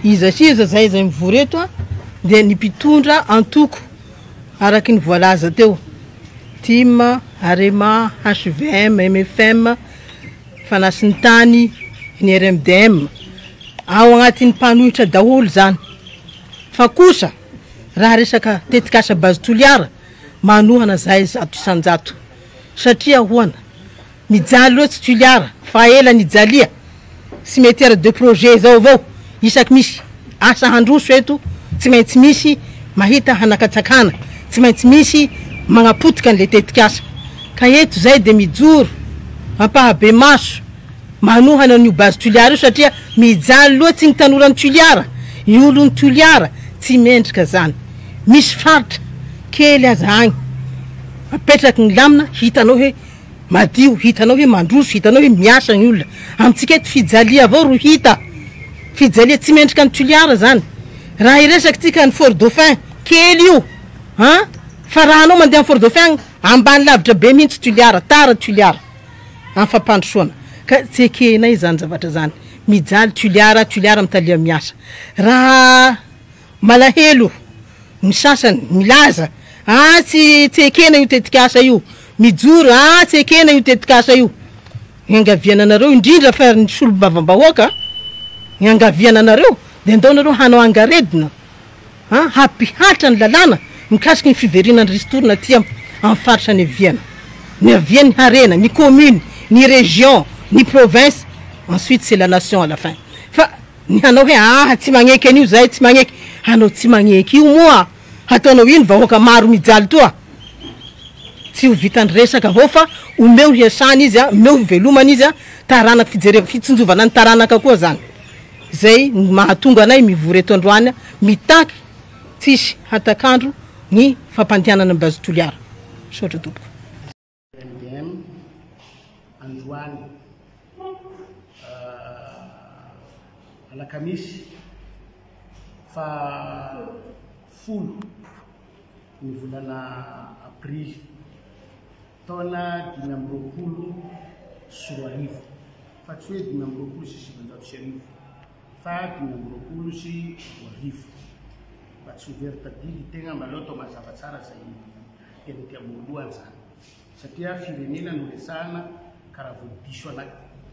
Iza sy iza izay izay mivory eto dia ny mpitondra antoko araka ny voalaza teo, tim, arema, hvm, mfm, fanasin-tany, ny RMDM. Ao agnatin'ny mpanohitra daholo izany. Fa kosa raha resaka tetikasa Base Toliara, manohana izahay zato isan-jato. Satria ahoana? Mijaly loatsy Tuliara fa ela nijalia cimetière de projet zao avao isaky misy asa handroso eto tsy maintsy misy mahita hanakatsakana tsy maintsy misy magnapotika anle tetikasa ka eto zay de mijoro ampahabemaso manohana anio base Tuliara io satria mijaly loatsy ny tanoran'i Tuliara ny olon'i Tuliara tsy mendrika zany misy faritra kely aza agny apetraky ny lamina hitanao hoe Madio, hitanao hoe mandroso, hitanao hoe miasa ny olona. Amintsika eto fijalia avao ro hita. Fijalia tsy mendrika ny toliara zany. Raha hiresakintsika ny Fort Dauphin, kely io an! Fa raha anao mandeha any Fort Dauphin agny, ambany lavitra be mihitsy toliara, tara toliara am fampandrosoana. Ka tsy ekenay zany zavatra zany. Mijaly toliara, toliara mitalia miasa. Raha. Malahelo ny sasany, milaza aah tsy tsy ekena io tetikasa io, mijoro aah tsy ekena io tetikasa io. Iangaviana anareo, indrindra fa ny solombavambahoaka, iangaviana anareo dia andao nareo hanao angaredona an, hampihatra ny lalàna mikasiky ny fiverina ny ristourne aty am am faritra niaviana, niaviany ny harena, ny commune, ny region, ny province, ensuite c'est la nation à la fin fa. Ny hanao hoe aa tsy magneky an'io zay tsy magneky anao tsy magneky io moa hataonao ino vahoaka maro mijaly toa tsy ho vitan'ny resaka avao fa omeo hiasana izy a omeo hivelomana izy a taranaka fijerevana fitsinjovana ny taranaka koa zany zay no mahatonga anay mivory eto androany a mitaky tsisy hatak'andro ny fampandehanana ny base toliara misaotra tompoko. MDM, androany alakamisy faha folo ny volana aprily taona dimy amby roapolo sy roa arivo fa tsy hoe dimy amby roapolo sy sivinjato sy arivo fa dimy amby roapolo sy roa arivo mba tsy ho very tadidy tegna mba aleo atao mazava tsara zay Tena ety ambohiloha izany satria firenena no resahana ka raha vao diso ana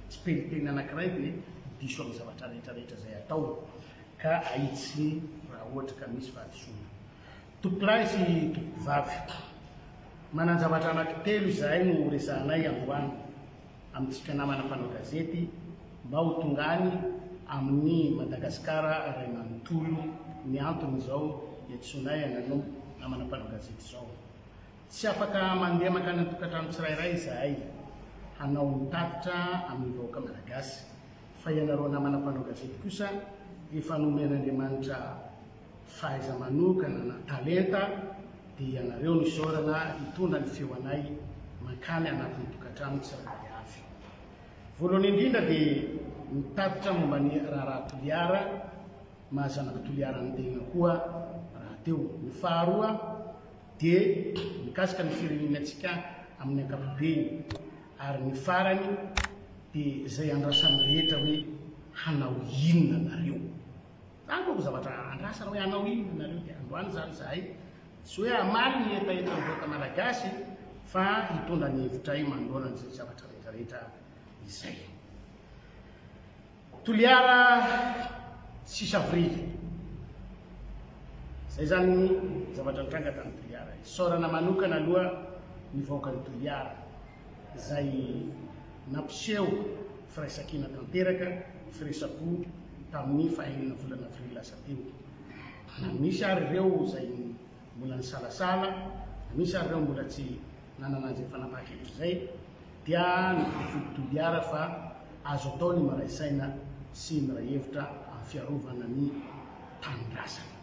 tsipeliteny anankiray dia diso amin'ny zavatra rehetra rehetra izay atao ka ahitsy raha ohatra ka misy fahadisoana. Tompolahy sy tompkovavy, manan-javatra anankitelo izahay no horesahanay androany. amintsika namana mpanao gazety mba ho tonga any amin'ny Madagascar ray manontolo ny antony izao iantsoanay anareo namana mpanao gazety izao. Tsy afaka mandeha mankany an-tokantrano tsirairay izahay hanao ny tatitra amin'ny vahoaka malagasy fa ianareo namana mpanao gazety kosa efa nomen'Andriamanitra fahaiza-manokana na talenta dia ianareo no isaorana hitondra ny feo anay mankany anatin'ny tokantrano tsirairay avy. Voalohany indrindra dia nitatitra momba ny raharaha Toliara maha zanak'i Toliara ny tegna koa rahateo. Ny faharoa dia mikasika ny firenenantsika amin'ny ankapobeny ary ny farany dia izay andrasan'ny rehetra hoe hanao inona nareo. Zany manko zavatra andrasana hoe hanao inona nareo dia androany zany zahay tsy hoe hamaly ny hetahetan vahoaka malagasy fa hitondra ny hevitray manoloana an'izay zavatra retraretra izay. Toliara sy Savorily. Zay zany ny zavatra nitranga tany Toliara. Isaorana manokana aloha ny vahoakan'i Toliara. izay nampiseho firaisankina tanteraka, firesa-po tamin'ny fahaenina volana avrily lasa teo. Na misy ary ireo izay mbola nisalasala, na misy ary ireo mbola tsy nanana izay fanapahan-kevitra izay, dia ny Prefidy Toliara fa azo atao ny miray saina sy miray hevitra amin'ny fiarovana ny tanindrazana.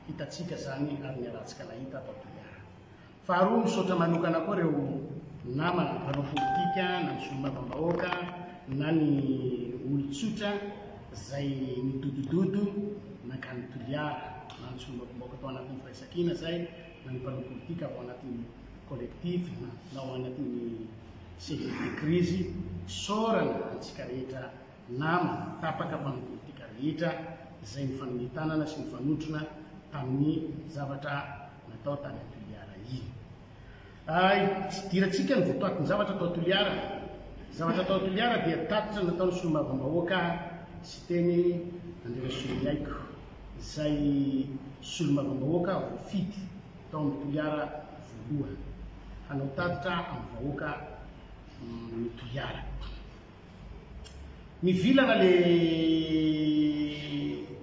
Hitantsika izany ary niarahantsika nahita tao Toliara. Faharoa, misaotra manokana koa ireo namana mpanao politika na ny solombavambahoaka na ny olon-tsotra izay nidodododo nankany Toliara, na ny solombavambahoaka tao anatin'ny Firaisankina izay, na ny mpanao politika avy ao anatin'ny Collectif na ao anatin'ny Cellule de crise, isaorana antsika rehetra. nama tapaka mpanao politika rehetra izay nifanome tanana sy nifanotrona tamin'ny zavatra natao tany Toliara iny. Hidirantsika ny votoatin-javatra tao Toliara. Ny zavatra tao Toliara dia tatitra nataon'ny solombavambahoaka Siteny Andriarasolomiaiko, izay solombavambahoaka voafidy tao amin'ny Toliara voalohany hanao tatitra amin'ny vahoaka ny Toliara. Mivilana le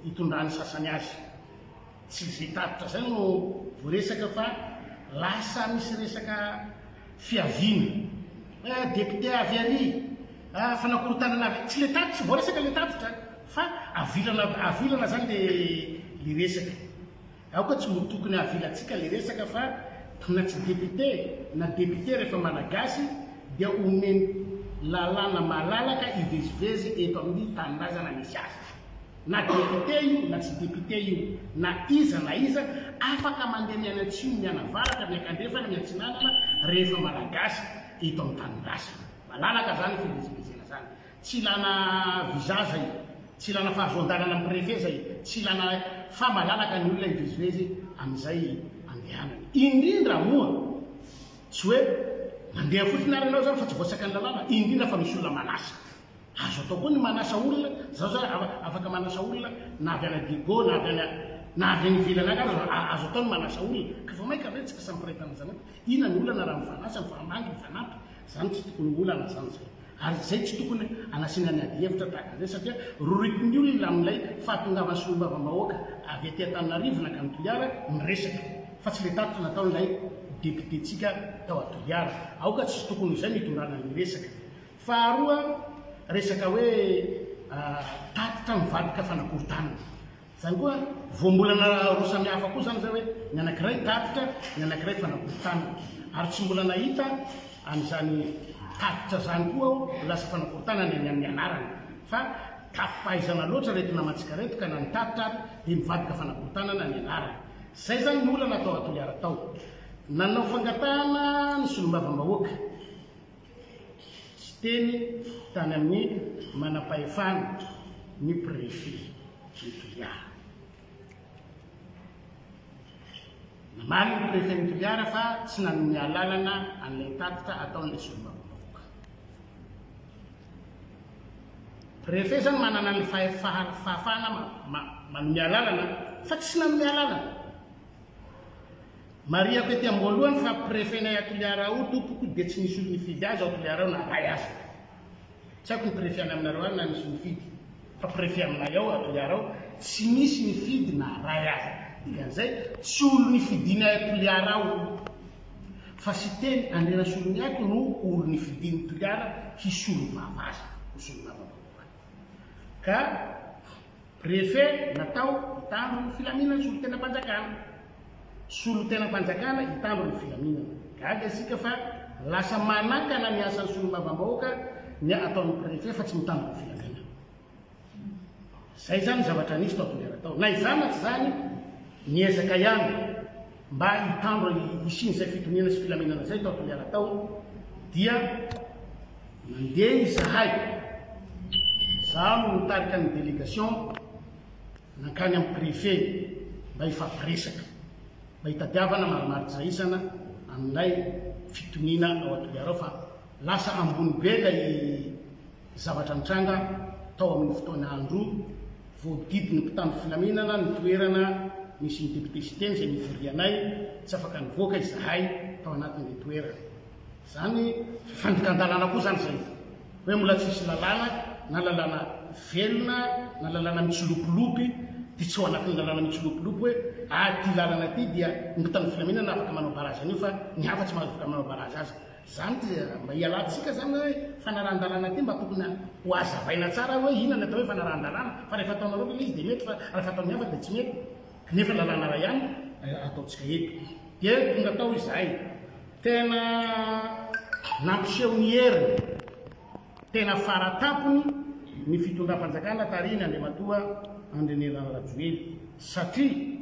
itondran'ny sasany azy. Tsy zay tatitra zay no voaresaka fa lasa misy resaka fiaviana. Hoe député avy ary, ah fanakorontanana avy, tsy le tatitra, tsy voaresaka le tatitra fa avilana avilana zany le le resaka. Aoka tsy ho tokony havilantsika le resaka fa na tsy député na député rehefa malagasy dia omeny lalàna malalaka hivezivezy eto amin'ny tanindrazana misy azy. Na député io na tsy député io, na iza na iza, afaka mandeha mianatsimo mianavaratra miakandrefana miatsinanana rehefa malagasy eto amin'ny tanindrazana. Malalaka zany fivezivezena zany. Tsy ilana visa zay, tsy ilana fahazoan-dalana amin'ny préfet zay, tsy ilana fa malalaka ny olona hivezivezy amin'izay andehanany. Indrindra moa tsy hoe mandeha fotsiny ary ianao zany fa tsy voasaika ny lalàna, indrindra fa misy olona manasa. Azo atao koa ny manasa olona, zaho zao afaka manasa olona na avy any Digo na avy any na avy any ivelany any aza azo atao ny manasa olona. Ka vao mainka ve tsy asan'ny préfet manjanaka? Inona ny olana raha mifanasa, mifambangy, mifanampy? Izany tsy tokony ho olana izany izay. Ary izay tsy tokony hanasiana ny adihevitra tahaka an'izay satria roritin'ny olona amin'ilay fahatongavan'ny solombavambahoaka avy aty Antananarivo nankany Toliara ny resaka fa tsy ilay tatitra nataon'ilay depiotentsika tao a Toliara. Aoka tsy tokony ho izay no hitondrana ny resaka. Faharoa, resaka hoe tatitra mivadika fanakorontanana. Izany koa, voambolana roa samihafa koa izany izay hoe ny anankiray tatitra, ny anankiray fanakorontanana. Ary tsy mbola nahita an'izany tatitra izany koa aho, lasa fanakorontanana eny amin'ny anarana. Fa tafipahaizana loatra ireto namantsika ireto ka na ny tatitra ary dia nivadika fanakorontanana ny anarany. Izay izany ny olana tao Toliara tao. Nanao fangatahana ny solombavambahoaka. siteny tany amin'ny manam-pahefana, ny préfet ny toliara. Namaly ny préfet ny toliara fa tsy nanome alalana an'ilay tatitra ataon'ilay solombavambahoaka. Préfet izany manana ny fahefana manome alalana fa tsy nanome alalana. Marihako ety am-boalohany fa prefenay à Toliara ao tompoko dia tsy nisy olon-nifidy azy ao Toliara ao na ray aza. Tsy haiko ny prefe any aminareo any na nisy nifidy fa prefe aminay ao à Toliara ao tsy nisy nifidy na ray aza. Dikan'izay tsy olon-nifidinay à Toliara ao io fa Siteny Andrianasoloniaiko no olon-nifidin'i Toliara hisolo vava azy ho solombavambahoaka. Ka. Prefe natao hitandro ny filaminana solotenam-panjakana. Solotenam-panjakana hitandro ny filaminana. Gaga isika fa lasa manakana ny asan'ny solombavambahoaka ny ataon'ny prefe fa tsy mitandro ny filaminana. Izay izany ny zavatra nisy tao Toliara tao. Na izany na tsy izany, niezaka ihany Mba hitambra ny hisian'izay fitoniana sy filaminana izay tao Toliara tao dia nandeha izahay, izaho no nitarika ny délégation nankany amin'ny préfet mba hifampiresaka, mba hitadiavana marimaritra isana amin'ilay fitoniana ao Toliara ao fa lasa ambony be ilay Zavatra nitranga tao amin'ny fotoana andro voadidin'ny mpitandro filaminana ny toerana nisy ny député Siteny izay nivorianay, tsy afaka nivoaka izahay tao anatin'ilay toerana. Izany fifandikan-dalàna koa izany izay hoe mbola tsy misy lalàna na lalàna velona na lalàna mitsilopilopy dia tsy ao anatin'ny lalàna mitsilopilopy hoe ah ity lalana ity dia ny mpitandro filaminana afaka manao barazy an'io fa ny hafa tsy mahazo afaka manao barazy azy. Izany dia mba hialantsika izany hoe fanarahan-dalàna ity mba tokony ho hazavaina tsara hoe inona ny atao hoe fanarahan-dalàna fa rehefa ataonareo ilay izy dia mety fa rehefa ataon'ny hafa dia tsy mety nefa lalàna iray ihany no ataontsika eto. Dia tonga tao izahay. Tena nampiseho ny heriny tena fara tampony ny fitondram-panjakana tarihin' Andriamatoa Andrinirina Rajoely satria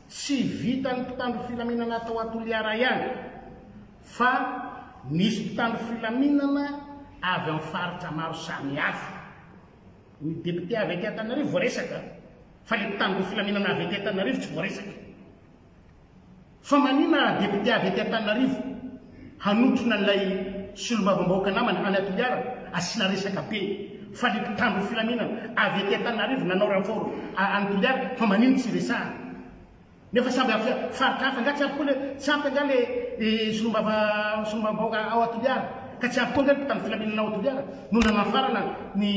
tsy vitan'ny mpitandro filaminana tao Toliara ihany fa nisy mpitandro filaminana avy amin'ny faritra maro samihafa. Ny député avy aty Antananarivo voaresaka, fa ilay mpitandro filaminana avy aty Antananarivo tsy voaresaka. Fa manina député avy aty Antananarivo hanotrona ilay solombavambahoaka namany any Toliara asiana resaka be, fa ilay mpitandro filaminana avy aty Antananarivo nanao renfort any Toliara fa manino tsy resahana. Nefa samby avy faritra hafa nga tsy ampy koa le tsy ampy nga le solombava solombavambahoaka ao Toliara ka tsy ampy koa nga ny mpitandro filaminana ao Toliara no nanafarana ny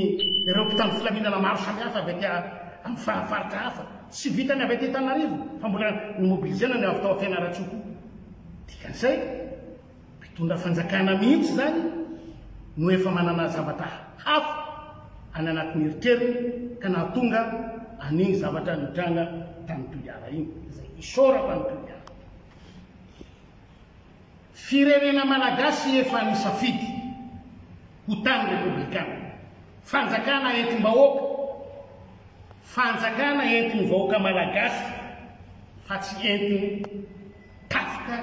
ireo mpitandro filaminana maro samy hafa avy aty amin'ny fa faritra hafa tsy vitany avy aty Tanarivo fa mbola ni mobilizena ny avy tao Fianarantsoa koa dikan'izay Mpitondra fanjakana mihitsy izany no efa manana zavatra hafa any anatin'ny eritreriny ka nahatonga an'iny zavatra nitranga tany Toliara iny, izay isaorako an'i Toliara. Firenena malagasy efa nisafidy ho tany repoblikana, fanjakana entim-bahoaka, fanjakana entin'ny vahoaka malagasy fa tsy entin'ny. tatitra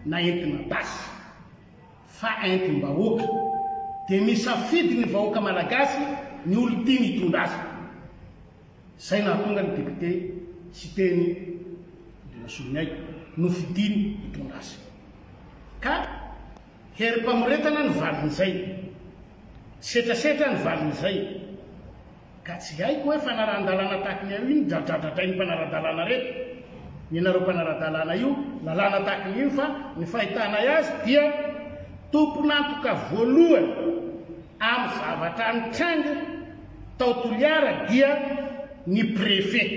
na entina basy fa entim-bahoaka dia misafidy ny vahoaka malagasy ny olon-tiany hitondra azy. Izay nahatonga ny député Siteny Rasoloniaiko nofidiny hitondra azy. Ka herim-pamoretana ny valin'izay. Setrasetra ny valin'izay. Ka tsy haiko hoe fanarahan-dalàna tahaka ny an'io no dradradradrain'ny mpanara-dalàna reto. Ny anareo mpanara-dalàna io, lalàna tahaka ny io fa ny fahitanay azy dia tompon'antoka voalohany amin'ny zavatra nitranga tao Toliara dia ny Préfet.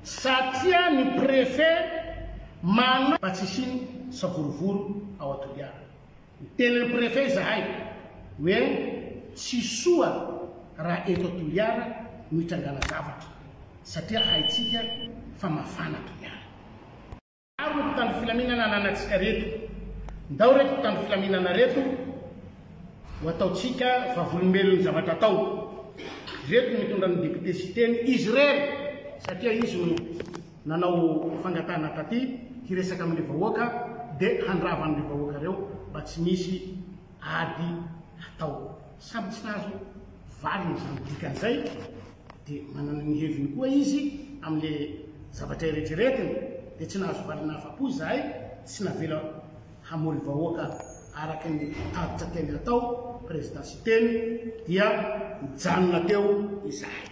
Satria ny Préfet manana. Mba tsy hisian'ny savorovoro ao Toliara. Niteny ny Préfet izahay hoe tsy soa raha eto Toliara no hitrangana zavatra satria haintsika fa mafana Toliara. Maro ny mpitandro filaminana ananantsika reto, ndao reto mpitandro filaminana reto ho ataontsika vavolombelon ny zavatra atao. Ireto no mitondra ny Député Siteny izy irery satria izy no. nanao fangatahana taty hiresaka amin'ny vahoaka dia handrava an'ireo vahoaka ireo mba tsy misy ady hatao. Samy tsy nahazo valiny izany dikany izay dia manana ny heviny koa izy amin'ilay zavatra eretreretiny dia tsy nahazo valiny afa-po izahay tsy navela hamory vahoaka araka ny tatitra teny hatao Président Siteny dia nijanona teo izahay.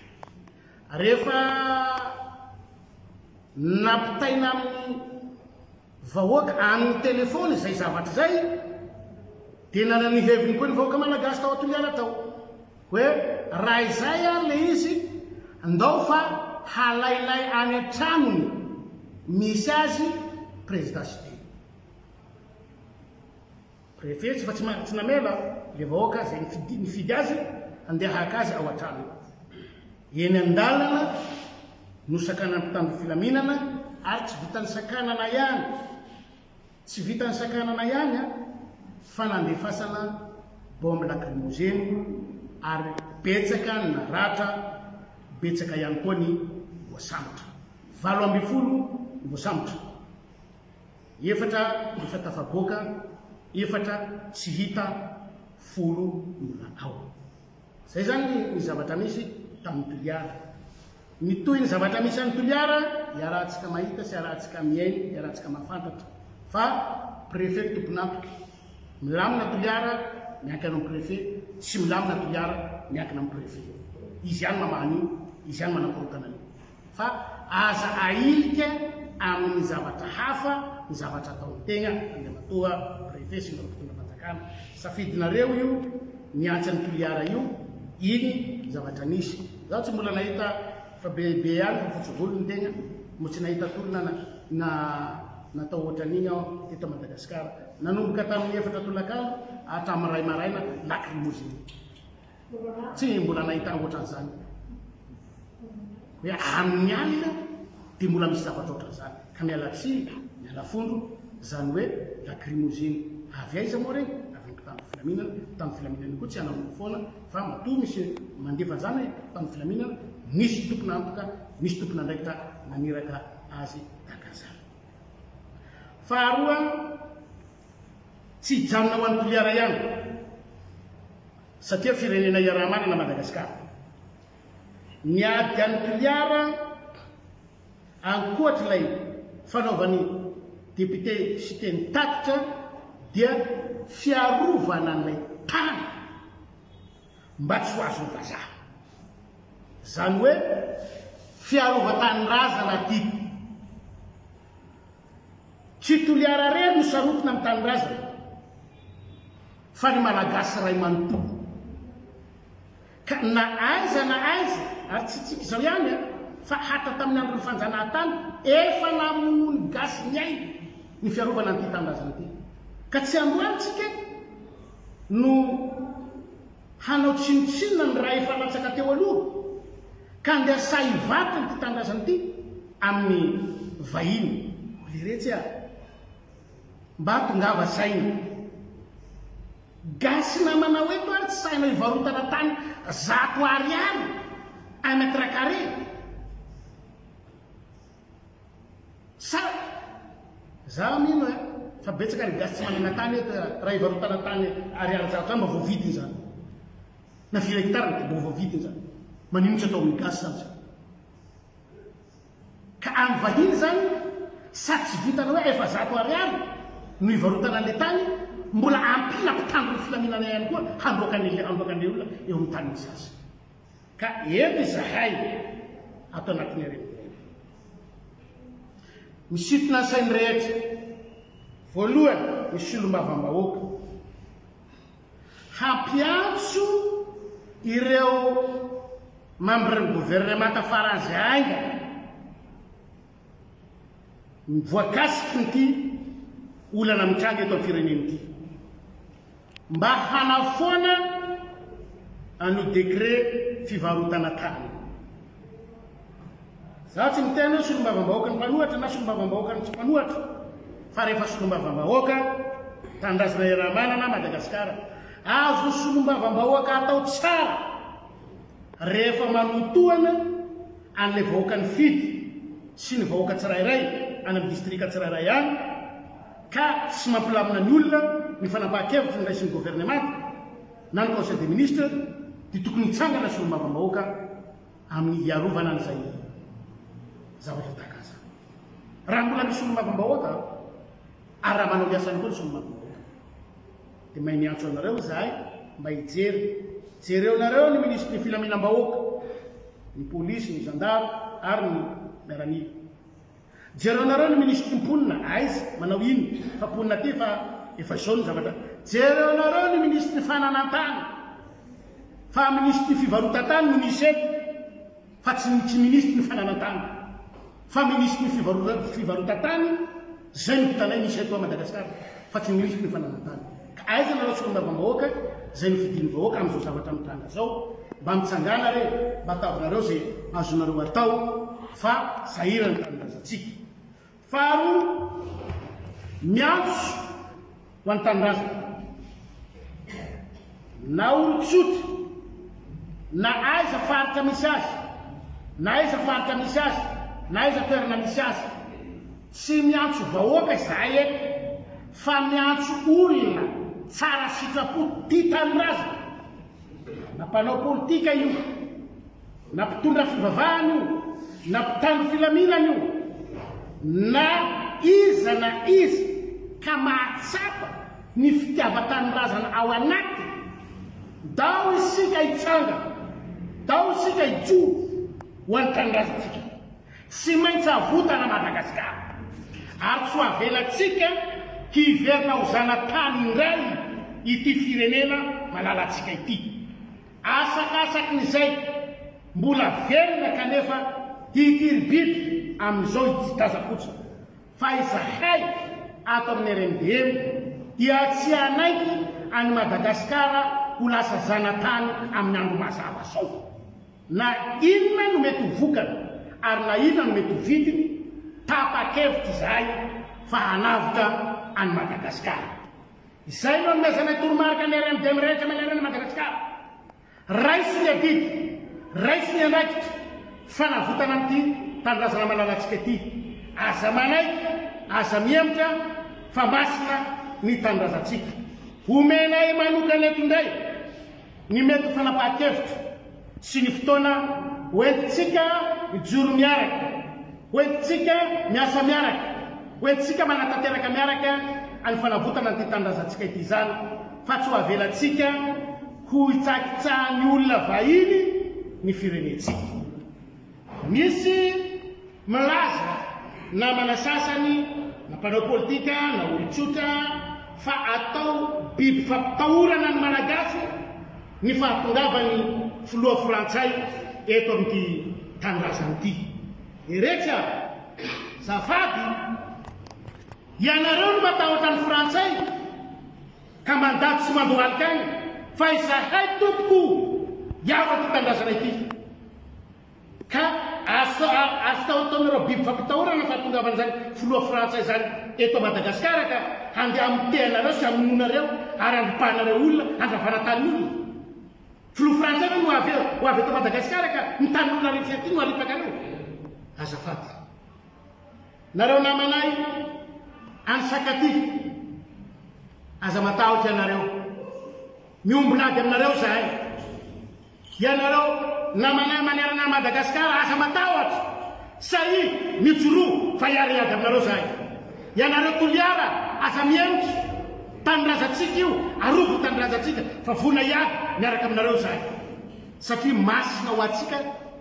Rehefa nampitaina amin'ny vahoaka amin'ny telefaony izay zavatra izay dia nanana ny heviny koa ny vahoaka malagasy tao Toliara tao hoe raha izay ary le izy ndao fa halainay any an-tranony misy azy Prezida Siteny. Prefetsy fa tsy ma- tsy namela le vahoaka izay nifidy, nifidy azy handeha haka azy ao an-tranony. Eny an-dalana no sakanan'ny mpitandro filaminana ary tsy vitan'ny sakanana ihany, tsy vitan'ny sakanana ihany an, fa nandefasana bombe lacrymogène ary betsaka ny naratra, betsaka ihany koa ny voasambotra. Valo ambin'ny folo ny voasambotra. efatra efa tafaboaka, efatra tsy hita, folo no natao. Izay izany ny zavatra misy tamin'i Toliara. Mitohy ny zavatra misy an'i Toliara, iarahantsika mahita sy iarahantsika mihaino, iarahantsika mahafantatra fa Préfet tompon'antoka. Milamina Toliara, miankina amin'ny Préfet, tsy milamina Toliara, miankina amin'ny Préfet. Izy ihany mamaha an'io, izy ihany manakorontana an'io. fa aza ahilika amin'ny zavatra hafa ny zavatra ataon'ny tegna, Andriamatoa Préfet sy ireo mpitondra fanjakana. Safidinareo io miantsa an'i Toliara io, iny zavatra nisy. Izaho tsy mbola nahita fa be be ihany fa fotsy volo ny tegna, mbola tsy nahita tolona na natao ohatran'iny aho teto Madagasikara, nanomboka tamin'ny efatra tolakandro hatramin'ny iray maraina lacrymogène. Tsy mbola nahita ohatran'izany hoe amin'ny alina dia mbola misy zavatra ohatran'izany. Ka miala tsiny, miala fondro, izany hoe lacrymogène. Avy aiza moa ireny? Avy amin'ny mpitandro filaminana. Ny mpitandro filaminana koa tsy hanamboho foana fa matoa misy mandefa an'izany mpitandro filaminana, misy tompon'antoka, misy tompon'andraikitra naniraka azy tahaka an'izany. Faharoa, Tsy hijanona ho an'i Toliara ihany satria firenena iaraha-manana Madagasikara. Ny ady an'i Toliara ankoatr'ilay fanaovan'ny député Siteny tatitra dia fiarovana an'ilay tany mba tsy ho azon'ny vazaha. Izany hoe fiarovan-tanindrazana ity. Tsy Toliara irery no sarotiny amin'ny tanindrazany fa ny Malagasy iray manontolo. Ka na aiza na aiza, ary tsy tsika izao ihany an, fa hatra tamin'ny andron'ny fanjanahantany, efa namonoa ny gasy ny ainy ny fiarovana an'ity tanindrazana ity. Ka tsy androany tsika no hanao tsinontsinona ny ra efa latsaka teo aloha ka andeha sahy vaky ity tanindrazana ity amin'ny vahiny oh leretsy ah mba tongava saina gasy namanao eto ary tsy sahinao hivarotana tany zato ariary un mètre carré Sa za mino eh fa betsaka ny gasy tsy manana tany eto eh raha hivarotana tany ariary zato zany mba voavidiny zany na firy hectare dia mba voavidiny zany manino tsy atao amin'ny gasy zany zany ka any vahiny zany sady tsy vitana hoe efa zato ariary no hivarotana an'le tany mbola ampina mpitandro ny filaminana ihany koa handroaka an'le handroaka an'le olona eo amin'ny tanin'ny sasany Ka eny izahay ato anatin'ireny ireny. Misintona ny sain'ny rehetra. Voalohany ny solombavambahoaka. Hampiantso ireo membres ny governemanta faran'izay haingana. ny voakasiky ity olana mitranga eto amin'ny firenena ity. Mba hanafoana an'io décret fivarotana tany. Za tsy miteny hoe solombavambahoaka ny mpanohatra na solombavambahoaka ny tsy mpanohatra fa rehefa solombavambahoaka tanindrazana iaraha-manana Madagasikara, azo solombavambahoaka atao tsara. Rehefa manotoana an'ilay vahoaka nifidy sy ny vahoaka tsirairay any amin'ny distrika tsirairay any ka tsy mampilamina ny olona ny fanapahan-kevitra noraisin'ny governemanta na ny Conseil des ministres dia tokony hitsangana ny solombavambahoaka amin'ny hiarovana an'izay zavatra tahaka an'izany. Raha mbola misy solombavambahoaka ary raha manao ny asany koa ny solombavambahoaka. Dia mahay miantso anareo izahay mba hijery. Jereonareo ny minisitry ny filaminam-bahoaka, ny polisy, ny zandary ary ny miaramila. Jereonareo ny minisitry ny mponina, aiza, manao ino, fa mponina aty fa efa izao ny zavatra. Jereonareo ny minisitry ny fananantany, fa minisitry ny fivarotan-tany no misy eto. fa tsy ny tsy minisitry ny fananan-tany fa minisitry ny fivarotan-tany zay no vitanay misy eto Madagascar fa tsy ny minisitry ny fananan-tany ka aiza nareo solombavambahoaka zay nofidin'ny vahoaka amin'izao zavatra mitranga zao mba mitsangana re mba ataovy nareo zay azonareo atao fa sahirana ny tanindrazantsika Faharoa, miantso ho an'ny tanindrazana na olon-tsotra na aiza faritra misy azy na aiza faritra misy azy na aiza toerana misy azy, tsy miantso vahoaka izahay eto fa miantso olona tsara sitrapo tia tanindrazana, na mpanao politika io, na mpitondra fivavahana io, na mpitandro filaminana io, na iza na iza ka mahatsapa ny fitiavan-tanindrazana ao anatiny, dao isika hitsangana, dao isika hijoro ho an'ny tanindrazantsika. Tsy maintsy avotana Madagasikara, ary tsy ho avelantsika hiverina ho zanatany indray ity firenena malalantsika ity. Asakasaky ny izay mbola velona kanefa ity ry biby amin'izao ididazakoja fa izahay ato amin'ny RMDM dia tsy hanaiky an'i Madagasikara ho lasa zanatany amin'ny andro mazava zao. Na inona no mety ho vokany ary na inona no mety ho vidiny, tapa-kevitra izahay fa hanavotra an'i Madagasikara. Izay no anomezanay toromarika ny RMD mirehitra amin'ny anarana Madagascar. Raiso ny adidy, raiso ny andraikitra, fanavotana an'ity tanindrazana malalantsika ity. Aza manaiky, aza mihemotra fa masina ny tanindrazantsika. Omenay manokana eto indray. ny mety ho fanapahan-kevitra sy ny fotoana hoentintsika mijoro miaraka, hoentintsika miasa miaraka, hoentintsika manatanteraka miaraka ny fanavotana an'ity tanindrazantsika ity izany fa tsy ho avelantsika ho hitsakitsahan'ny olona vahiny ny firenentsika. Misy milaza, namana sasany, na mpanao politika, na olon-tsotra, fa atao biby fampitahorana ny Malagasy ny fahatongavan'ny filoha frantsay eto amin'ity tanindrazana ity. Eretsy aho, zafady, ianareo no matahotra ny frantsay? ka mandady sy mandohalika aina fa izahay tompoko hiaro ity tanindrazana ity ka azo azo tahotahoinareo biby fampitahorana fahatongavan'izany filoha frantsay izany eto Madagasikara ka handeha amitehanareo sy hamonoanareo ary handripahanareo olona handravana tany olona filoha frantsay ve no avy eo ho avy eto Madagasikara ka ny tanin'olona rehetra ety no haripakareo azafady Nareo namanay any Sakaty aza matahotra ianareo miombon'ady aminareo zahay ianareo namanay manerana an'i Madagascar aza matahotra sahy mijoroa fa hiary hiady aminareo zahay ianareo Toliara aza mihemotra tanindrazantsika io arovy ny tanindrazantsika fa vonona hiady miaraka aminareo zahay satria masina ho antsika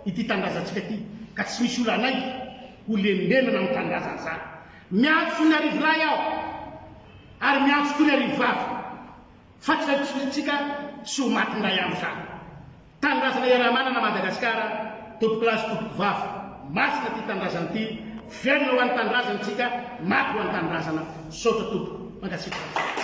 ity tanindrazantsika ity ka tsy misy olo hanaiky Ho lembenana amin'ny tanindrazana izany. Miantso ny Arivolahy aho ary miantso koa ny Arivovavy fa tsy haipotsipotsintsika sy ho maty indray andro izany. Tanindrazana iaraha-manana Madagasikara, tompokolahy sy tompokovavy. Masina ity tanindrazana ity, velona ho an'ny tanindrazana isika, maty ho an'ny tanindrazana. Misaotra tompoko. Mankasitraka.